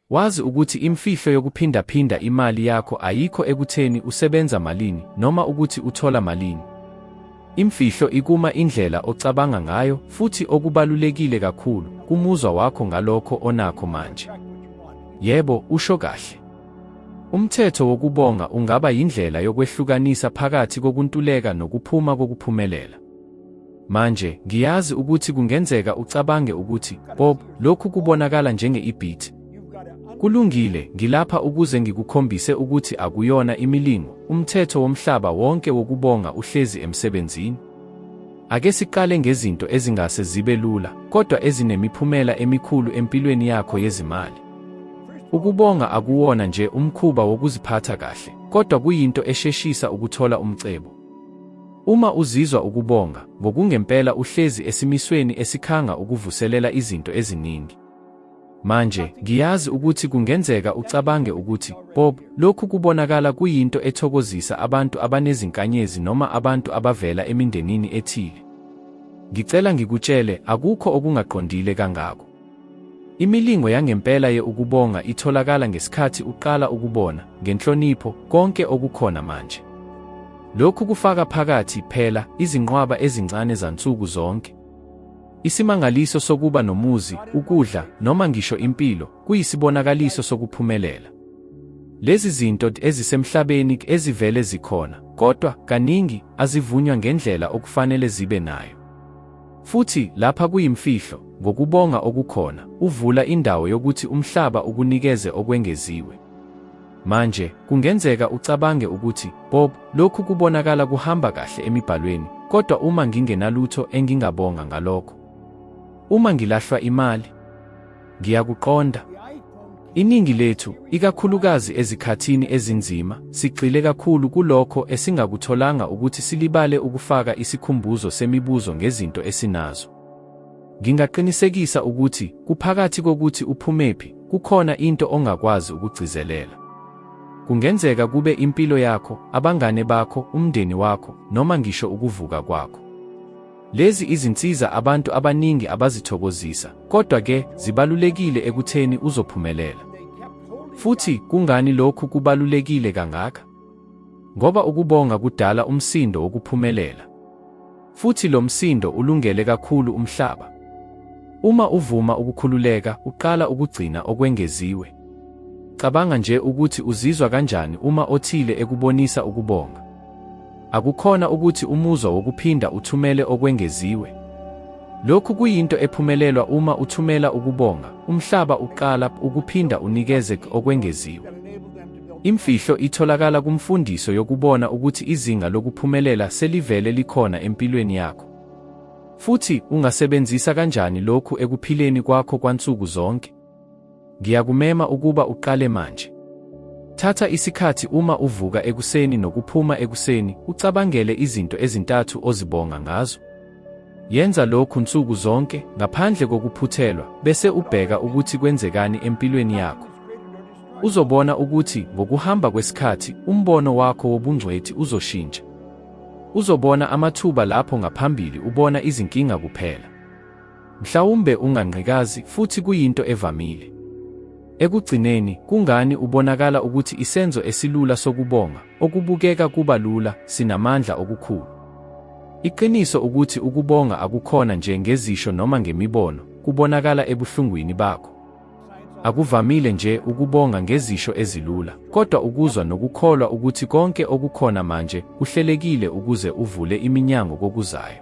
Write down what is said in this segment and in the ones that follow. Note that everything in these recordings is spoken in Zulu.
Wazi ukuthi imfihlo yokuphindaphinda imali yakho ayikho ekutheni usebenza malini noma ukuthi uthola malini. Imfihlo ikuma indlela ocabanga ngayo futhi okubalulekile kakhulu kumuzwa wakho ngalokho onakho manje. Yebo, usho kahle. Umthetho wokubonga ungaba yindlela yokwehlukanisa phakathi kokuntuleka nokuphuma kokuphumelela. Manje, ngiyazi ukuthi kungenzeka ucabange ukuthi, Bob, lokhu kubonakala njenge-ibhithi. Kulungile, ngilapha ukuze ngikukhombise ukuthi akuyona imilingo, umthetho womhlaba wonke wokubonga uhlezi emsebenzini. Ake siqale ngezinto ezingase zibe lula, kodwa ezinemiphumela emikhulu empilweni yakho yezimali. Ukubonga akuwona nje umkhuba wokuziphatha kahle, kodwa kuyinto esheshisa ukuthola umcebo. Uma uzizwa ukubonga, ngokungempela uhlezi esimisweni esikhanga ukuvuselela izinto eziningi. Manje, ngiyazi ukuthi kungenzeka ucabange ukuthi, Bob, lokhu kubonakala kuyinto ethokozisa abantu abanezinkanyezi noma abantu abavela emindenini ethile. Ngicela ngikutshele, akukho okungaqondile kangako. Imilingo yangempela ye ukubonga itholakala ngesikhathi uqala ukubona ngenhlonipho konke okukhona manje. Lokhu kufaka phakathi phela izinqwaba ezincane zansuku zonke. Isimangaliso sokuba nomuzi, ukudla, noma ngisho impilo kuyisibonakaliso sokuphumelela. Lezi zinto ezisemhlabeni ezivele zikhona, kodwa kaningi azivunywa ngendlela okufanele zibe nayo. Futhi, lapha kuyimfihlo, ngokubonga okukhona, uvula indawo yokuthi umhlaba ukunikeze okwengeziwe. Manje, kungenzeka ucabange ukuthi, Bob, lokhu kubonakala kuhamba kahle emiBhalweni, kodwa uma ngingenalutho engingabonga ngalokho? Uma ngilahlwa imali? Ngiyakuqonda. Iningi lethu, ikakhulukazi ezikhathini ezinzima, sigxile kakhulu kulokho esingakutholanga ukuthi silibale ukufaka isikhumbuzo semibuzo ngezinto esinazo. Ngingaqinisekisa ukuthi, kuphakathi kokuthi uphumephi, kukhona into ongakwazi ukugcizelela. Kungenzeka kube impilo yakho, abangane bakho, umndeni wakho, noma ngisho ukuvuka kwakho. Lezi izinsiza abantu abaningi abazithokozisa, kodwa ke zibalulekile ekutheni uzophumelela. Futhi kungani lokhu kubalulekile kangaka? Ngoba ukubonga kudala umsindo wokuphumelela. Futhi lo msindo ulungele kakhulu umhlaba. Uma uvuma ukukhululeka, uqala ukugcina okwengeziwe. Cabanga nje ukuthi uzizwa kanjani uma othile ekubonisa ukubonga. Akukhona ukuthi umuzwa wokuphinda uthumele okwengeziwe. Lokhu kuyinto ephumelelwa uma uthumela ukubonga, umhlaba uqala ukuphinda unikeze okwengeziwe. Imfihlo itholakala kumfundiso yokubona ukuthi izinga lokuphumelela selivele likhona empilweni yakho. Futhi ungasebenzisa kanjani lokhu ekuphileni kwakho kwansuku zonke? Ngiyakumema ukuba uqale manje. Thatha isikhathi uma uvuka ekuseni nokuphuma ekuseni ucabangele izinto ezintathu ozibonga ngazo. Yenza lokhu nsuku zonke ngaphandle kokuphuthelwa bese ubheka ukuthi kwenzekani empilweni yakho. Uzobona ukuthi ngokuhamba kwesikhathi umbono wakho wobungcwethi uzoshintsha. Uzobona amathuba lapho ngaphambili ubona izinkinga kuphela. Mhlawumbe ungangqikazi, futhi kuyinto evamile. Ekugcineni, kungani ubonakala ukuthi isenzo esilula sokubonga, okubukeka kuba lula, sinamandla okukhulu? Iqiniso ukuthi ukubonga akukhona nje ngezisho noma ngemibono, kubonakala ebuhlungwini bakho. Akuvamile nje ukubonga ngezisho ezilula, kodwa ukuzwa nokukholwa ukuthi konke okukhona manje kuhlelekile ukuze uvule iminyango kokuzayo.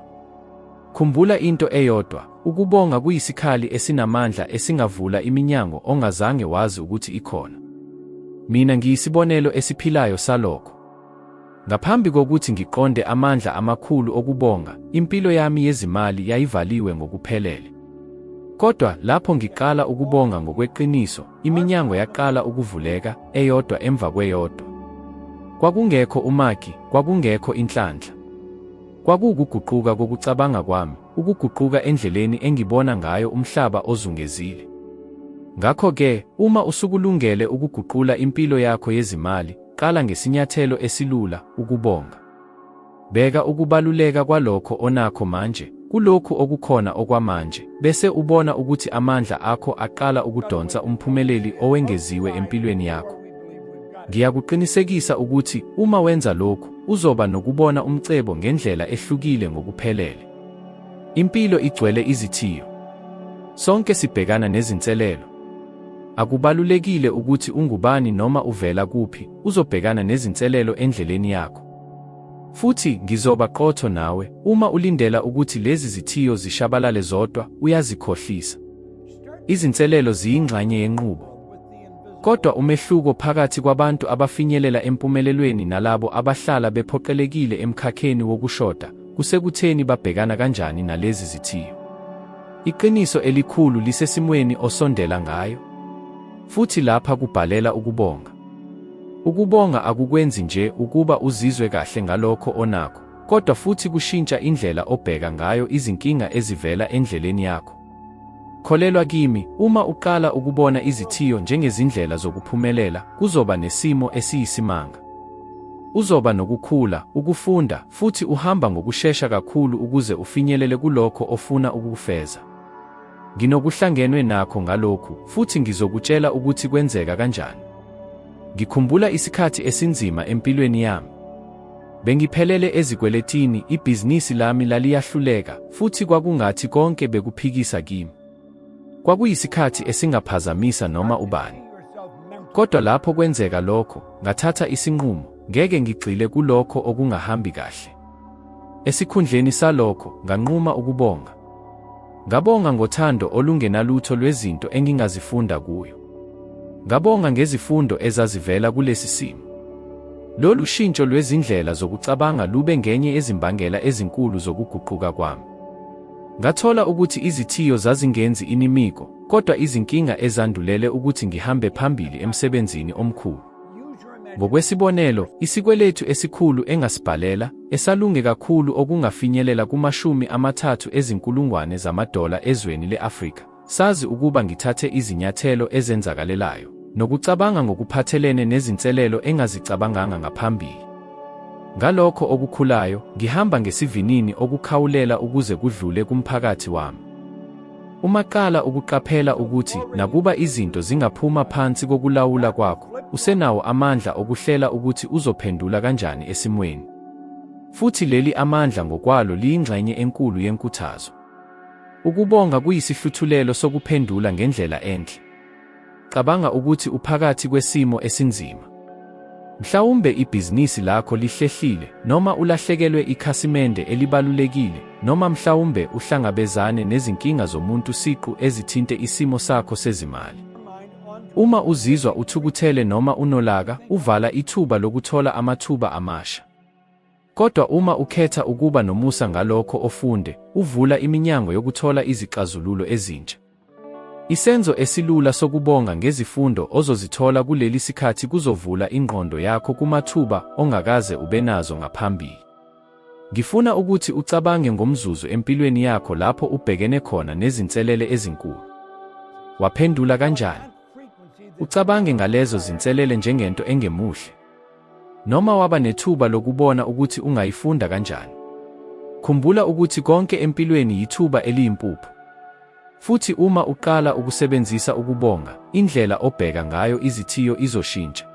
Khumbula into eyodwa, ukubonga kuyisikhali esinamandla esingavula iminyango ongazange wazi ukuthi ikhona. Mina ngiyisibonelo esiphilayo salokho. Ngaphambi kokuthi ngiqonde amandla amakhulu okubonga, impilo yami yezimali yayivaliwe ngokuphelele. Kodwa lapho ngiqala ukubonga ngokweqiniso, iminyango yaqala ukuvuleka, eyodwa emva kweyodwa. Kwakungekho umaki, kwakungekho inhlanhla. Kwakuwukuguquka kokucabanga kwami, ukuguquka endleleni engibona ngayo umhlaba ozungezile. Ngakho-ke, uma usukulungele ukuguqula impilo yakho yezimali, qala ngesinyathelo esilula, ukubonga. Beka ukubaluleka kwalokho onakho manje kulokhu okukhona okwamanje, bese ubona ukuthi amandla akho aqala ukudonsa umphumeleli owengeziwe empilweni yakho. Ngiyakuqinisekisa ukuthi uma wenza lokhu, uzoba nokubona umcebo ngendlela ehlukile ngokuphelele. Impilo igcwele izithiyo. Sonke sibhekana nezinselelo. Akubalulekile ukuthi ungubani noma uvela kuphi, uzobhekana nezinselelo endleleni yakho. Futhi ngizoba qotho nawe, uma ulindela ukuthi lezi zithiyo zishabalale zodwa, uyazikhohlisa. Izinselelo ziyingxanye yenqubo. Kodwa umehluko phakathi kwabantu abafinyelela empumelelweni nalabo abahlala bephoqelekile emkhakheni wokushoda kusekutheni babhekana kanjani nalezi zithiyo. Iqiniso elikhulu lisesimweni osondela ngayo. Futhi lapha kubhalela ukubonga. Ukubonga akukwenzi nje ukuba uzizwe kahle ngalokho onakho, kodwa futhi kushintsha indlela obheka ngayo izinkinga ezivela endleleni yakho. Kholelwa kimi, uma uqala ukubona izithiyo njengezindlela zokuphumelela, kuzoba nesimo esiyisimanga. Uzoba nokukhula, ukufunda, futhi uhamba ngokushesha kakhulu ukuze ufinyelele kulokho ofuna ukukufeza. Nginokuhlangenwe nakho ngalokhu, futhi ngizokutshela ukuthi kwenzeka kanjani. Ngikhumbula isikhathi esinzima empilweni yami. Bengiphelele ezikweletini, ibhizinisi lami laliyahluleka, futhi kwakungathi konke bekuphikisa kimi. Kwakuyisikhathi esingaphazamisa noma ubani. Kodwa lapho kwenzeka lokho, ngathatha isinqumo, ngeke ngigxile kulokho okungahambi kahle. Esikhundleni salokho, nganquma ukubonga. Ngabonga ngothando olungenalutho lwezinto engingazifunda kuyo. Ngabonga ngezifundo ezazivela kulesi simo. Lolu shintsho lwezindlela zokucabanga lube ngenye yezimbangela ezinkulu zokuguquka kwami. Ngathola ukuthi izithiyo zazingenzi inimiko, kodwa izinkinga ezandulele ukuthi ngihambe phambili emsebenzini omkhulu. Ngokwesibonelo, isikweletu esikhulu engasibhalela, esalunge kakhulu okungafinyelela kumashumi amathathu ezinkulungwane zamadola ezweni le-Afrika, sazi ukuba ngithathe izinyathelo ezenzakalelayo, nokucabanga ngokuphathelene nezinselelo engazicabanganga ngaphambili. Ngalokho okukhulayo, ngihamba ngesivinini okukhawulela ukuze kudlule kumphakathi wami. Uma qala ukuqaphela ukuthi nakuba izinto zingaphuma phansi kokulawula kwakho, usenawo amandla okuhlela ukuthi uzophendula kanjani esimweni. Futhi leli amandla ngokwalo liyingxenye enkulu yenkuthazo. Ukubonga kuyisihluthulelo sokuphendula ngendlela enhle. Cabanga ukuthi uphakathi kwesimo esinzima. Mhlawumbe ibhizinisi lakho lihlehlile, noma ulahlekelwe ikhasimende elibalulekile, noma mhlawumbe uhlangabezane nezinkinga zomuntu siqu ezithinte isimo sakho sezimali. Uma uzizwa uthukuthele noma unolaka, uvala ithuba lokuthola amathuba amasha. Kodwa uma ukhetha ukuba nomusa ngalokho ofunde, uvula iminyango yokuthola izixazululo ezintsha. Isenzo esilula sokubonga ngezifundo ozozithola kuleli sikhathi kuzovula ingqondo yakho kumathuba ongakaze ubenazo ngaphambili. Ngifuna ukuthi ucabange ngomzuzu empilweni yakho lapho ubhekene khona nezinselele ezinkulu. Waphendula kanjani? Ucabange ngalezo zinselele njengento engemuhle. Noma waba nethuba lokubona ukuthi ungayifunda kanjani. Khumbula ukuthi konke empilweni yithuba eliyimpuphu. Futhi uma uqala ukusebenzisa ukubonga, indlela obheka ngayo izithiyo izoshintsha.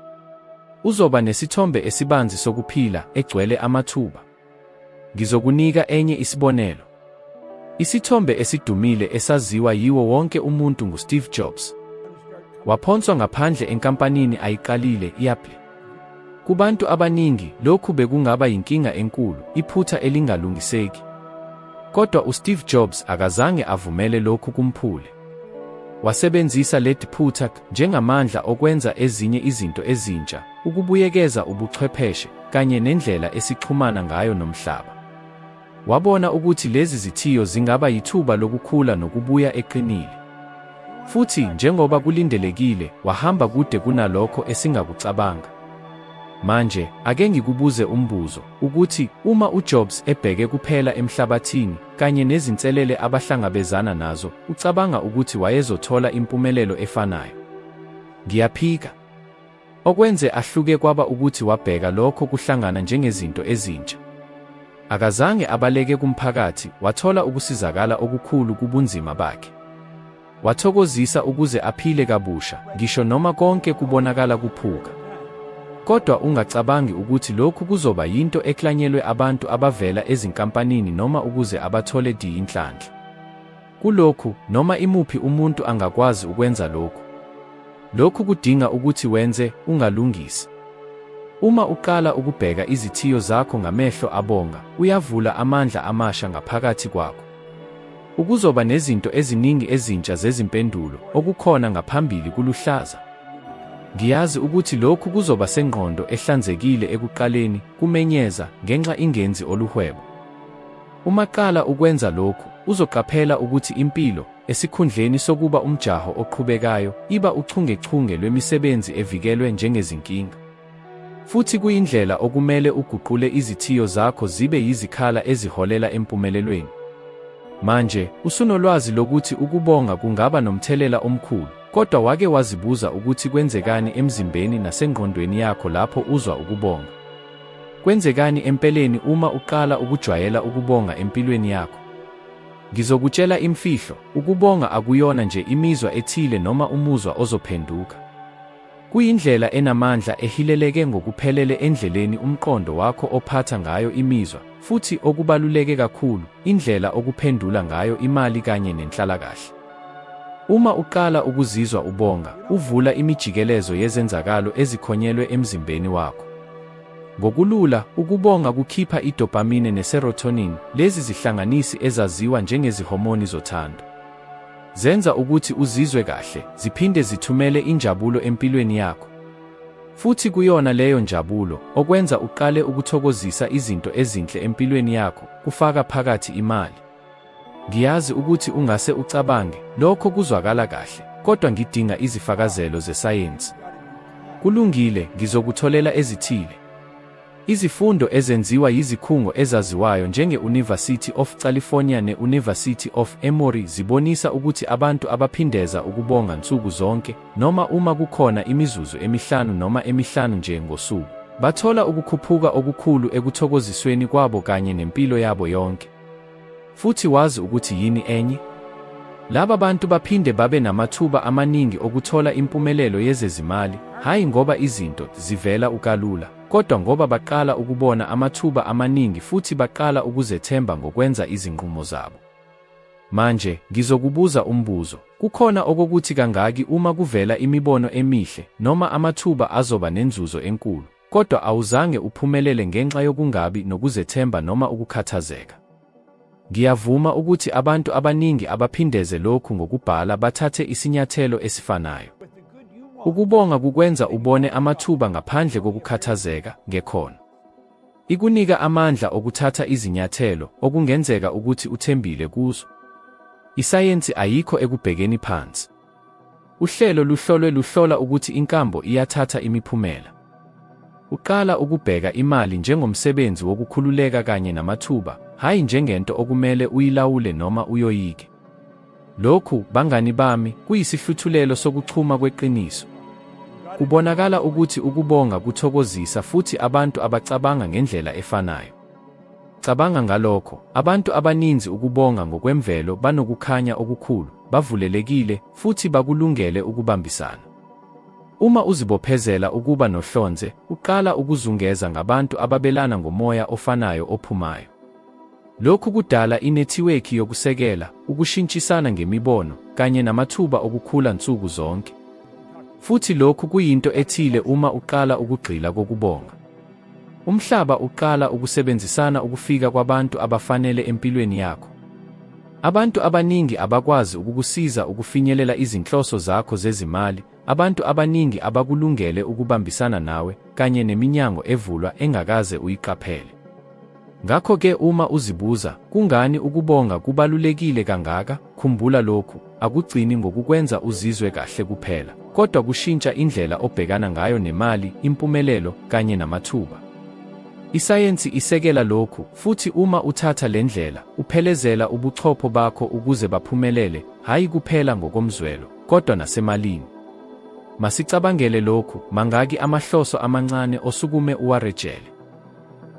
Uzoba nesithombe esibanzi sokuphila egcwele amathuba. Ngizokunika enye isibonelo. Isithombe esidumile esaziwa yiwo wonke umuntu nguSteve Jobs. Waphonswa ngaphandle enkampanini ayiqalile i-Apple. Kubantu abaningi, lokhu bekungaba yinkinga enkulu, iphutha elingalungiseki. Kodwa uSteve Jobs akazange avumele lokhu kumphule. Wasebenzisa leli phutha njengamandla okwenza ezinye izinto ezintsha, ukubuyekeza ubuchwepheshe, kanye nendlela esixhumana ngayo nomhlaba. Wabona ukuthi lezi zithiyo zingaba yithuba lokukhula nokubuya eqinile. Futhi njengoba kulindelekile, wahamba kude kunalokho esingakucabanga. Manje, ake ngikubuze umbuzo, ukuthi uma uJobs ebheke kuphela emhlabathini, kanye nezinselele abahlangabezana nazo, ucabanga ukuthi wayezothola impumelelo efanayo? Ngiyaphika. Okwenze ahluke kwaba ukuthi wabheka lokho kuhlangana njengezinto ezintsha. Akazange abaleke kumphakathi, wathola ukusizakala okukhulu kubunzima bakhe. Wathokozisa ukuze aphile kabusha, ngisho noma konke kubonakala kuphuka. Kodwa ungacabangi ukuthi lokhu kuzoba yinto eklanyelwe abantu abavela ezinkampanini noma ukuze abathole di inhlanhla. Kulokhu, noma imuphi umuntu angakwazi ukwenza lokhu. Lokhu kudinga ukuthi wenze, ungalungisi. Uma uqala ukubheka izithiyo zakho ngamehlo abonga, uyavula amandla amasha ngaphakathi kwakho. Ukuzoba nezinto eziningi ezintsha zezimpendulo, okukhona ngaphambili kuluhlaza. Ngiyazi ukuthi lokhu kuzoba sengqondo ehlanzekile ekuqaleni, kumenyeza, ngenxa ingenzi oluhwebo. Uma qala ukwenza lokhu, uzoqaphela ukuthi impilo, esikhundleni sokuba umjaho oqhubekayo, iba uchungechunge lwemisebenzi evikelwe njengezinkinga. Futhi kuyindlela okumele uguqule izithiyo zakho zibe yizikhala eziholela empumelelweni. Manje, usunolwazi lokuthi ukubonga kungaba nomthelela omkhulu, kodwa wake wazibuza ukuthi kwenzekani emzimbeni nasengqondweni yakho lapho uzwa ukubonga? Kwenzekani empeleni uma uqala ukujwayela ukubonga empilweni yakho? Ngizokutshela imfihlo, ukubonga akuyona nje imizwa ethile noma umuzwa ozophenduka. Kuyindlela enamandla ehileleke ngokuphelele endleleni umqondo wakho ophatha ngayo imizwa, futhi okubaluleke kakhulu, indlela okuphendula ngayo imali kanye nenhlalakahle. Uma uqala ukuzizwa ubonga, uvula imijikelezo yezenzakalo ezikhonyelwe emzimbeni wakho. Ngokulula, ukubonga kukhipha i-dopamine ne-serotonin, lezi zihlanganisi ezaziwa njengezihomoni zothando. Zenza ukuthi uzizwe kahle, ziphinde zithumele injabulo empilweni yakho. Futhi kuyona leyo njabulo okwenza uqale ukuthokozisa izinto ezinhle empilweni yakho, kufaka phakathi imali. Ngiyazi ukuthi ungase ucabange, lokho kuzwakala kahle, kodwa ngidinga izifakazelo zesayensi. Kulungile, ngizokutholela ezithile. Izifundo ezenziwa yizikhungo ezaziwayo njenge-Univasithi of California ne-Univasithi of Emory zibonisa ukuthi abantu abaphindeza ukubonga nsuku zonke, noma uma kukhona imizuzu emihlanu noma emihlanu nje ngosuku, bathola ukukhuphuka okukhulu ekuthokozisweni kwabo kanye nempilo yabo yonke. Futhi wazi ukuthi yini enye? Laba bantu baphinde babe namathuba amaningi okuthola impumelelo yezezimali, hhayi ngoba izinto zivela ukalula, kodwa ngoba baqala ukubona amathuba amaningi futhi baqala ukuzethemba ngokwenza izinqumo zabo. Manje, ngizokubuza umbuzo, kukhona okokuthi kangaki uma kuvela imibono emihle noma amathuba azoba nenzuzo enkulu? kodwa awuzange uphumelele ngenxa yokungabi nokuzethemba noma ukukhathazeka. Ngiyavuma ukuthi abantu abaningi abaphindeze lokhu ngokubhala bathathe isinyathelo esifanayo. Ukubonga kukwenza ubone amathuba ngaphandle kokukhathazeka ngekhono. Ikunika amandla okuthatha izinyathelo okungenzeka ukuthi uthembile kuzo. Isayensi ayikho ekubhekeni phansi. Uhlelo luhlolwe luhlola ukuthi inkambo iyathatha imiphumela. Uqala ukubheka imali njengomsebenzi wokukhululeka kanye namathuba, hhayi njengento okumele uyilawule noma uyoyike. Lokhu, bangani bami, kuyisihluthulelo sokuchuma kweqiniso. Kubonakala ukuthi ukubonga kuthokozisa futhi abantu abacabanga ngendlela efanayo. Cabanga ngalokho, abantu abaninzi ukubonga ngokwemvelo banokukhanya okukhulu, bavulelekile, futhi bakulungele ukubambisana. Uma uzibophezela ukuba nohlonze, uqala ukuzungeza ngabantu ababelana ngomoya ofanayo ophumayo. Lokhu kudala inethiwekhi yokusekela, ukushintshisana ngemibono, kanye namathuba okukhula nsuku zonke. Futhi lokhu kuyinto ethile uma uqala ukugxila kokubonga. Umhlaba uqala ukusebenzisana ukufika kwabantu abafanele empilweni yakho. Abantu abaningi abakwazi ukukusiza ukufinyelela izinhloso zakho zezimali, abantu abaningi abakulungele ukubambisana nawe, kanye neminyango evulwa engakaze uyiqaphele. Ngakho-ke uma uzibuza, kungani ukubonga kubalulekile kangaka, khumbula lokhu, akugcini ngokukwenza uzizwe kahle kuphela, kodwa kushintsha indlela obhekana ngayo nemali, impumelelo, kanye namathuba. Isayensi isekela lokhu, futhi uma uthatha le ndlela, uphelezela ubuchopho bakho ukuze baphumelele, hhayi kuphela ngokomzwelo, kodwa nasemalini. Masicabangele lokhu, mangaki amahloso amancane osukume uwarejele?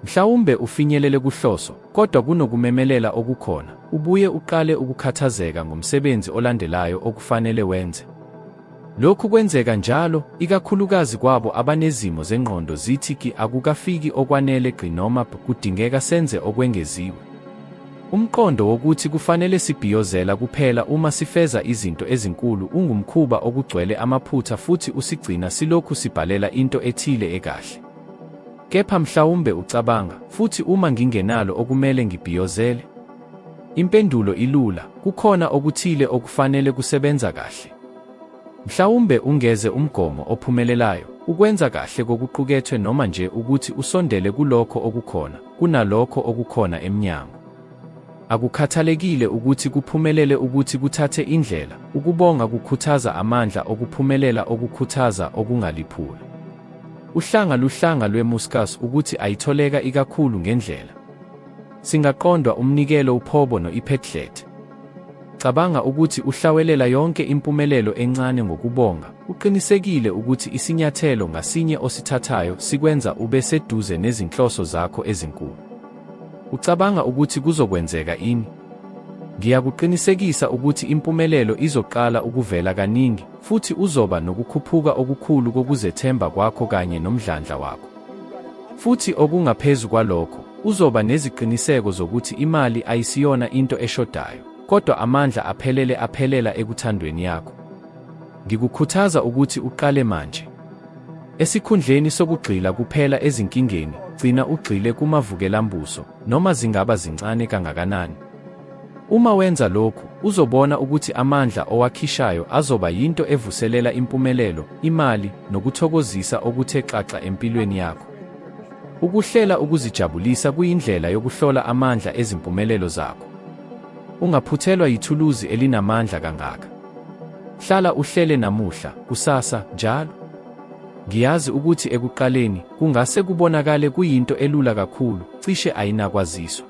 Mhlawumbe ufinyelele kuhloso, kodwa kunokumemelela okukhona, ubuye uqale ukukhathazeka ngomsebenzi olandelayo okufanele wenze. Lokhu kwenzeka njalo, ikakhulukazi kwabo abanezimo zengqondo zithi ki akukafiki okwanele gqi noma b kudingeka senze okwengeziwe. Umqondo wokuthi kufanele sibhiyozela kuphela uma sifeza izinto ezinkulu ungumkhuba okugcwele amaphutha futhi usigcina silokhu sibhalela into ethile ekahle. Kepha mhlawumbe ucabanga, futhi uma ngingenalo okumele ngibhiyozele? Impendulo ilula, kukhona okuthile okufanele kusebenza kahle. Mhlawumbe ungeze umgomo ophumelelayo, ukwenza kahle kokuqukethwe noma nje ukuthi usondele kulokho okukhona, kunalokho okukhona emnyango. Akukhathalekile ukuthi kuphumelele ukuthi kuthathe indlela, ukubonga kukhuthaza amandla okuphumelela okukhuthaza okungaliphula. Uhlanga luhlanga lwemuscus ukuthi ayitholeka ikakhulu ngendlela. Singaqondwa umnikelo uphobo no-iphetlet. Cabanga ukuthi uhlawelela yonke impumelelo encane ngokubonga, uqinisekile ukuthi isinyathelo ngasinye osithathayo sikwenza ube seduze nezinhloso zakho ezinkulu. Ucabanga ukuthi kuzokwenzeka ini? Ngiyakuqinisekisa ukuthi impumelelo izoqala ukuvela kaningi, Futhi uzoba nokukhuphuka okukhulu kokuzethemba kwakho kanye nomdlandla wakho. Futhi okungaphezu kwalokho, uzoba neziqiniseko zokuthi imali ayisiyona into eshodayo, kodwa amandla aphelele aphelela ekuthandweni yakho. Ngikukhuthaza ukuthi uqale manje. Esikhundleni sokugxila kuphela ezinkingeni, gcina ugxile kumavukelambuso, noma zingaba zincane kangakanani. Uma wenza lokhu, uzobona ukuthi amandla owakhishayo azoba yinto evuselela impumelelo, imali, nokuthokozisa okuthe xaxa empilweni yakho. Ukuhlela ukuzijabulisa kuyindlela yokuhlola amandla ezimpumelelo zakho. Ungaphuthelwa yithuluzi elinamandla kangaka. Hlala uhlele namuhla, kusasa, njalo. Ngiyazi ukuthi ekuqaleni kungase kubonakale kuyinto elula kakhulu, cishe ayinakwaziswa.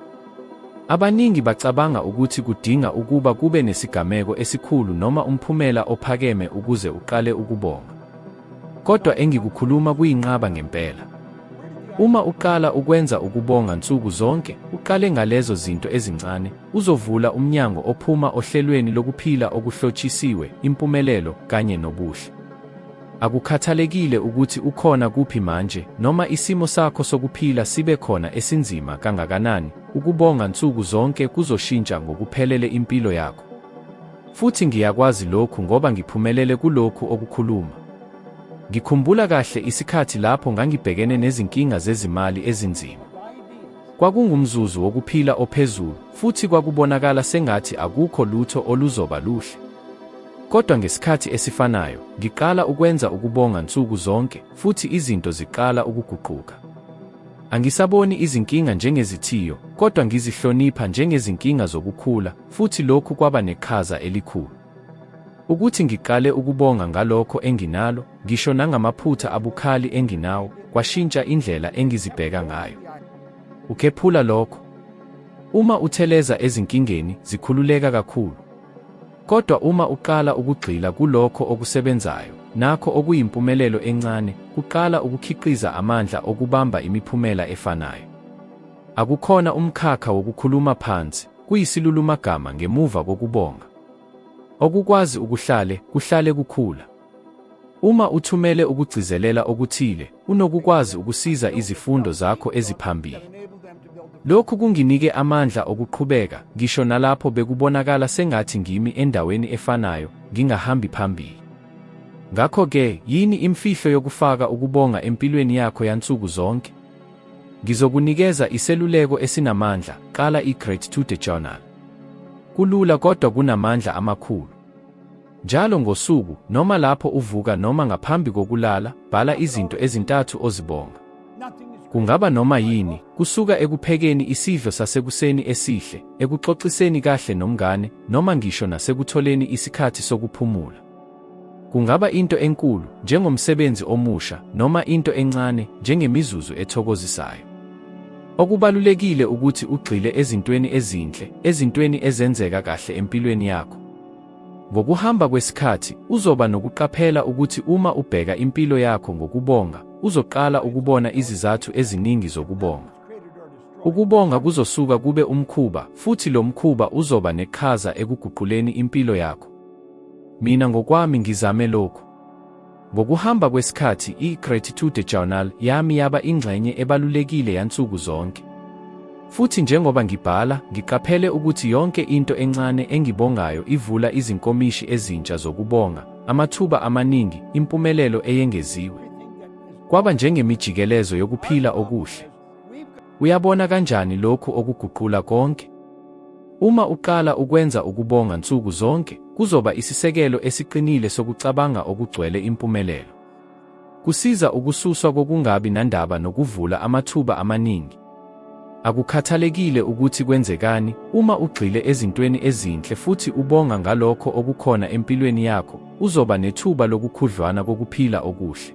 Abaningi bacabanga ukuthi kudinga ukuba kube nesigameko esikhulu noma umphumela ophakeme ukuze uqale ukubonga. Kodwa engikukhuluma kuyinqaba ngempela. Uma uqala ukwenza ukubonga nsuku zonke, uqale ngalezo zinto ezincane, uzovula umnyango ophuma ohlelweni lokuphila okuhlotshisiwe, impumelelo, kanye nobuhle. Akukhathalekile ukuthi ukhona kuphi manje, noma isimo sakho sokuphila sibe khona esinzima kangakanani, ukubonga nsuku zonke kuzoshintsha ngokuphelele impilo yakho. Futhi ngiyakwazi lokhu ngoba ngiphumelele kulokhu okukhuluma. Ngikhumbula kahle isikhathi lapho ngangibhekene nezinkinga zezimali ezinzima. Kwakungumzuzu wokuphila ophezulu, futhi kwakubonakala sengathi akukho lutho oluzoba luhle. Kodwa ngesikhathi esifanayo, ngiqala ukwenza ukubonga nsuku zonke, futhi izinto ziqala ukuguquka. Angisaboni izinkinga njengezithiyo, kodwa ngizihlonipha njengezinkinga zokukhula, futhi lokhu kwaba neqhaza elikhulu. Ukuthi ngiqale ukubonga ngalokho enginalo, ngisho nangamaphutha abukhali enginawo, kwashintsha indlela engizibheka ngayo. Ukhephula lokho. Uma utheleza ezinkingeni, zikhululeka kakhulu. Kodwa uma uqala ukugxila kulokho okusebenzayo, nakho okuyimpumelelo encane, kuqala ukukhiqiza amandla okubamba imiphumela efanayo. Akukhona umkhakha wokukhuluma phansi, kuyisilulumagama ngemuva kokubonga. Okukwazi ukuhlale kuhlale kukhula. Uma uthumele ukugcizelela okuthile, unokukwazi ukusiza izifundo zakho eziphambili. Lokhu kunginike amandla okuqhubeka, ngisho nalapho bekubonakala sengathi ngimi endaweni efanayo, ngingahambi phambili. Ngakho-ke, yini imfihlo yokufaka ukubonga empilweni yakho yansuku zonke? Ngizokunikeza iseluleko esinamandla, qala i-Gratitude Journal. Kulula kodwa kunamandla amakhulu. Njalo ngosuku, noma lapho uvuka noma ngaphambi kokulala, bhala izinto ezintathu ozibonga. Kungaba noma yini, kusuka ekuphekeni isidlo sasekuseni esihle, ekuxoxiseni kahle nomngane, noma ngisho nasekutholeni isikhathi sokuphumula. Kungaba into enkulu, njengomsebenzi omusha, noma into encane, njengemizuzu ethokozisayo. Okubalulekile ukuthi ugxile ezintweni ezinhle, ezintweni ezenzeka kahle empilweni yakho. Ngokuhamba kwesikhathi, uzoba nokuqaphela ukuthi uma ubheka impilo yakho ngokubonga, uzoqala ukubona izizathu eziningi zokubonga. Ukubonga kuzosuka kube umkhuba, futhi lo mkhuba uzoba neqhaza ekuguquleni impilo yakho. Mina ngokwami ngizame lokhu. Ngokuhamba kwesikhathi, i-Gratitude Journal yami yaba ingxenye ebalulekile yansuku zonke. Futhi njengoba ngibhala, ngiqaphele ukuthi yonke into encane engibongayo ivula izinkomishi ezintsha zokubonga, amathuba amaningi, impumelelo eyengeziwe. Kwaba njengemijikelezo yokuphila okuhle. Uyabona kanjani lokhu okuguqula konke? Uma uqala ukwenza ukubonga nsuku zonke, kuzoba isisekelo esiqinile sokucabanga okugcwele impumelelo. Kusiza ukususwa kokungabi nandaba nokuvula amathuba amaningi. Akukhathalekile ukuthi kwenzekani, uma ugxile ezintweni ezinhle futhi ubonga ngalokho okukhona empilweni yakho, uzoba nethuba lokukhudlwana kokuphila okuhle.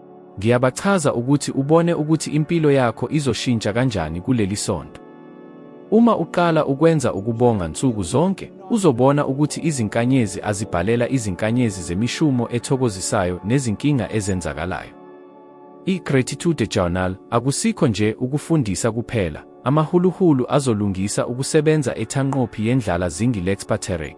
Ngiyabachaza ukuthi ubone ukuthi impilo yakho izoshintsha kanjani kuleli sonto. Uma uqala ukwenza ukubonga nsuku zonke, uzobona ukuthi izinkanyezi azibhalela izinkanyezi zemishumo ethokozisayo nezinkinga ezenzakalayo. I-Gratitude Journal akusikho nje ukufundisa kuphela, amahuluhulu azolungisa ukusebenza ethanqophi yendlala zingi Lexpaterek.